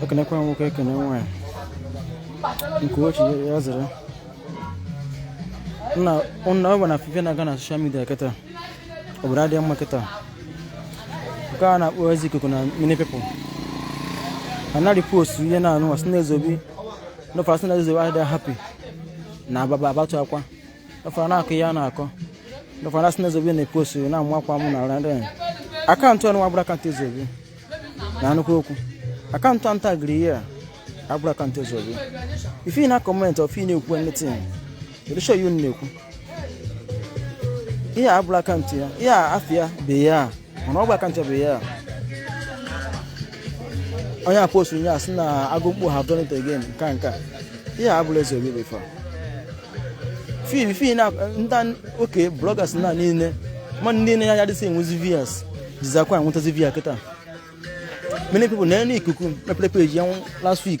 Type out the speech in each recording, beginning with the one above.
ekenekwa nwoke ekene nwanyị nke ochi ya zere nna ọ bụ na ife na-aga na social media kịta obodo adịghị mma kịta nke a na-akpọ ezi ikuku na many people anarọ epost ihe na-anụ wa sị na Zubby n'ofe asị na Zubby adịghị happy na ababa abatụ akwa Dọfara na-akọ ihe a na-akọ. Dọfara na-asị na Zubby na-ekwu osiri na-amụ akwa mụ na randị. Akaụntụ ọnụ abụrọ akaụntụ Zubby. Na anụkwu okwu. Akaụntụ a ntagiri ihe a abụrọ akaụntụ Zubby. If ị na-acomment if ị na-ekwu anything. Kedu sure ihe ị na-ekwu? Ihe a abụrọ akaụntụ ya. Ihe a afọ ya bụ ihe a. mana ọgwụ aka nchebe ya onye apost nye asị na agụ mkpu has done it again nka nka ihe a bụla Zubby bifọ fim fim na nta oke bloggers na niile ma ndị na ya dịsị enwezi views jizikwa enwetazi view kịta many people na enu ikuku mepere peji ya last week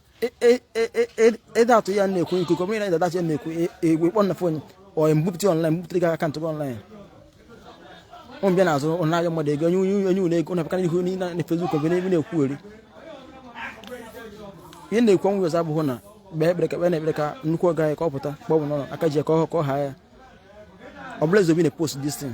ịda atụ ya na-ekwu ikuku ọ bụrụ na ịda atụ ya na-ekwu egwu ịkpọ na fon onye mbupụta online mbupụta gị akaụntụ gị online ụmụ bịa na-azụ ụna ahịa mmadụ ego onye onye ụlọ ego na-apụkara ihu niile na Facebook ọ bụ n'ebe na-ekwu eri ihe na-ekwu ọnwụ ọzọ abụghị na kpee ekpere ka kpee na ekpere ka nnukwu oga ya ka ọ pụta ka ọ bụ n'ụlọ aka ji ka ọ ha ya ọ bụla Zubby na-apost this thing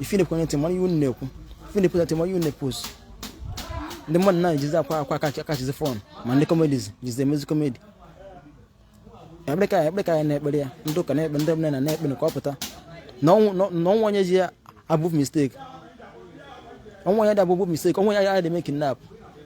if ị na-ekwu anything mara ihe unu na-ekwu if ị na-ekwu anything mara ihe unu na-ekwu ndị mmadụ na-ejizi akwa akwa acatchizi fun ma ndị comedy jizi emezi comedy ekpere ka ekpere ka anyị na-ekpere ya ndị ụka na-ekpe ndị ọbụla na-ekpe na ka ọ pụta na o nwerọ onye dị above mistake o nwerọ onye dị above mistake o nwerọ onye a dị eme kidnap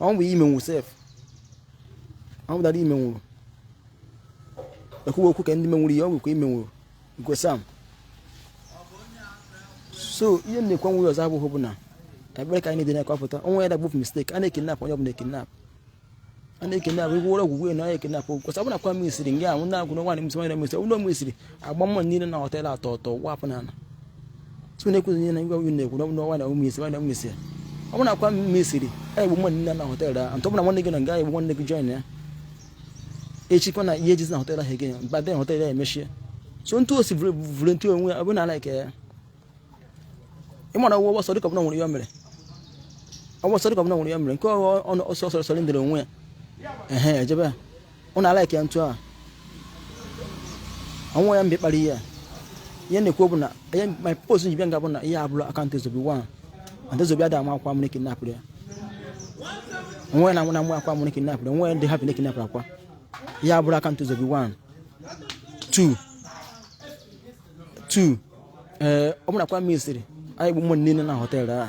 ọnwụ bụ ime nwụ sef ọnwụ dara ime nwụrụ ekwuwe okwu ka ndị menwuru ihe ọgwụ ka ime nwụrụ nke sam so ihe m na-ekwu enwerọ ọzọ abụghị bụ na ekpere ka anyị na-ekpe na ka ọ pụta o nwerọ onye dị above mistake a na-ekidnap onye ọbụla ekidnap a na-ekidnap igwe ụlọ ọgwụgwụ na ya ekidnap kwụsị ọ bụ na Akwa mesiri nga anwụ na-agwụ na nwaanyị msị nwaanyị msị ụlọ m isiri agba mmadụ niile na họtel atọ ọtọ wapụ na ala so na-ekwu ihe na ngwa unu na-ekwu na ọnwa na ụmụ isi nwa na ụmụ isi ọ bụrụ na Akwa mesiri anyị bụ nwanne nna na họtel ahụ ntọ bụla nwanne gị na nga anyị bụ nwanne gị join ya echi kwa na ihe ejezi na họtel ahụ again mba then họtel ya emechie so ntụ osi vụrụ ntụ onwe ya ọ bụ na alaike ya ịmara ụgwọ ọgbọsọ dịka ọbụla nwere ya mere ọgbọsọ dịka ọbụla nwere ya mere nke ọsọ ọsọ ọsọ ndịrị onwe ya ehe ejebe ya Ọ na-ala ike ntụ a ọnwụ ya mgbe kpara ihe a ihe na-ekwu bụ na ihe my post njibe nga bụ na ihe abụrụ akaụntụ ezobi wa and ezobi ada ama akwa mụrụ kinapụrụ ya onwe na nwụna nwa akwa mụrụ kinapụrụ onwe ndị hapụ kinapụrụ akwa ihe abụrụ akaụntụ ezobi wa tu tu ee ọ bụrụ akwa ministry anyị bụ mmadụ niile na họteelụ a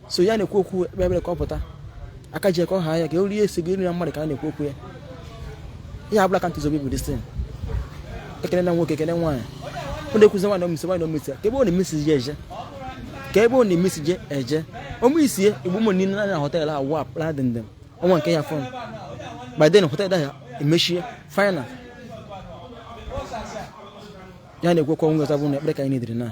so ya na-ekwu okwu ekpe ebere ka ọ pụta aka ji ekọ ha ya ka o rie esi gị nri na mmadụ ka a na-ekwu okwu ya ihe abụla ka ntụzobi bụ distin ekele na nwoke ekele nwaanyị ọ na-ekwuzi nwaanyị omisi nwaanyị omisi ya ka ebe ọ na-emisi je eje ka ebe ọ na-emisi je eje omisi ya igbo ụmụ niile na họtel a wa akpara dị ndịm ọnwa nke ya fọn biden họtel ya emechie final ya na-ekwekwa nweta bụ na ekpere ka anyị na-ediri na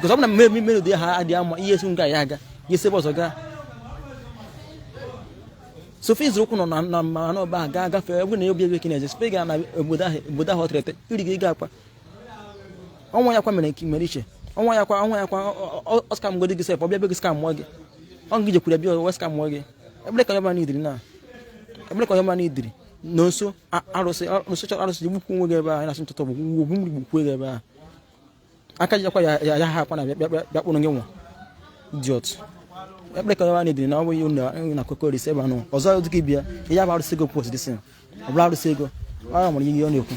because ọ bụ na mmemme melodi ha adị ama ihe esi nga ya aga ya esi ebe ọzọ gaa sofi zuru ụkwụ nọ na mmanụ ọba a gaa gafee egwu na obi ebe kene eze spega na obodo ahụ obodo ahụ ọtịrịtị iri gị ga akwa ọnwa ya kwa mere nke mere iche ọnwa ya kwa ọnwa ya kwa ọ scam godi gị sef ọ bịa be gị scamụọ gị ọ gị jekwuru bịa wee scamụọ gị ebele ka ọma n'idiri na ebele ka ọma n'idiri na nso arụsị arụsị chọrọ arụsị ji gbukwu nwe gị ebe ahụ na-asị ntụtụ bụ Ogwugwu mgbiri gbukwue gị ebe ahụ aka jikwa ya ya ha akwa na bịakpụrụ gị nwa dị otu ekpere ka nwaanyị dịrị na ọ bụghị na kokoris ebe anụ ọzọ dịka ibia ihe a bụ arụsị ego post dịsị ọ bụrụ arụsị ego ọ nwere ihe ọ na-ekwu